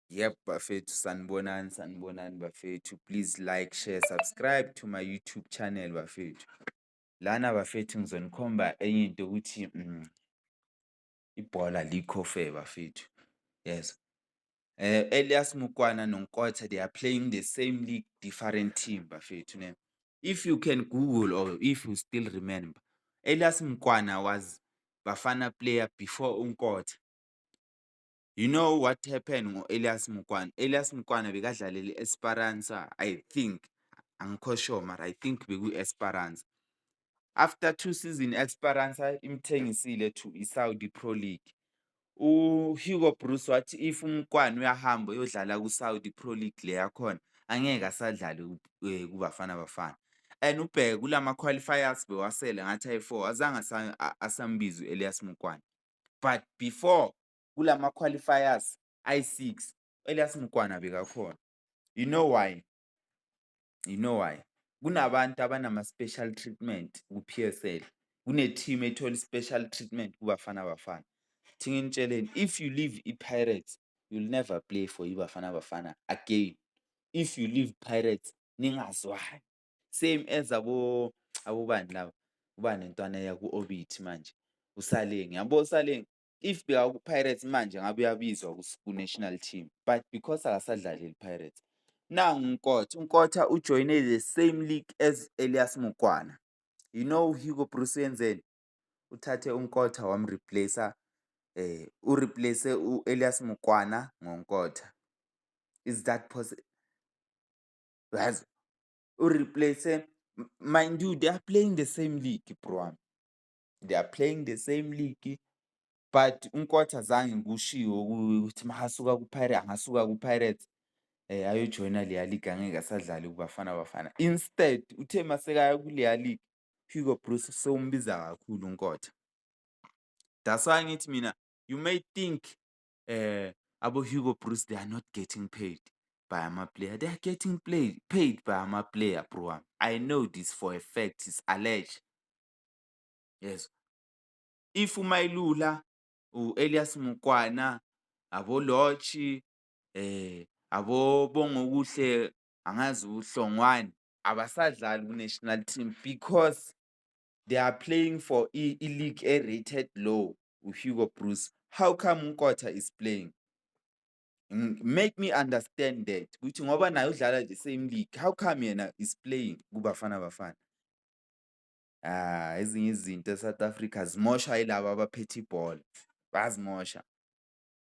Yebo bafethu, sanibonani sanibonani bafethu. Please like, share, subscribe to my YouTube channel bafethu. Lana bafethu ngizonikhomba enye into ukuthi mm, ibhola alikho fair bafethu. Yes. Eh Elias Mukwana noNkotha they are playing the same league different team bafethu ne. If you can google or if you still remember Elias Mkwana was Bafana player before uNkotha. You know what happened ngo-Elias Mokwana? Elias Mokwana bekadlalela i-Esperanza I think, angikho sure mara I think bekwi-Esperanza. After two season i-Esperanza imthengisile to i-Saudi Pro League. UHugo Broos wathi if uMokwana uyahamba uyodlala ku-Saudi Pro League le yakhona, angeke asadlale eh, kuBafana Bafana. And ubheke kula ma-qualifiers bewasele ngathi ayi-four, azange asambiza u-Elias Mokwana. But before kulama-qualifiers ayi-six, u-Elias Mkwana bekakhona. You know why? You know why? Kunabantu abanama-special treatment ku-P_S_L, kune-team ethola i-special treatment kuBafana Bafana. Thi nginitsheleni, if you leave iPirates, you will never play for iBafana Bafana again. If you leave Pirates, ningazwani. Same as abobani laba, ubani lomntwana eya ku-Orbit manje, uSaleng. Yabo uSaleng, If bekakuPirates manje ngabe uyabizwa kuNational Team but because akasadlaleli iPirates. Nangu uNkotha, uNkotha ujoyine the same league as Elias Mokwana. You know Hugo Broos uyenzeni? Uthathe uNkotha wamreplace-a um ureplace-e u-Elias Mokwana ngoNkotha. Is that possible? Yazi ureplace-e mind you they are playing the same league bro wami. they are playing the same league but uNkotha zange ngikushiwo kuye ukuthi makasuka kuPirates angasuka kuPirates eh ayojoyina leya league angeke asadlali kuBafana Bafana instead uthe masekaya kuleya league Hugo Broos sewumbiza kakhulu uNkotha that's why ngithi mina you may think eh abo Hugo Broos they are not getting paid by ama player they are getting played paid by ama player bro I know this for a fact is alleged yezwa. If uMayilula, u-Elias Mukwana, abo-Lorch, eh abo-Bongokuhle angazi uHlongwane abasadlali ku-national team because they are playing for i-league e-rated low uHugo Broos. How come uNkotha is playing? Make me understand that ukuthi ngoba naye udlala the same league, how come yena is playing kuBafana Bafana? Ezinye izinto e-South Africa zimoshwa yilaba abaphethe ibhola, bayazimosha.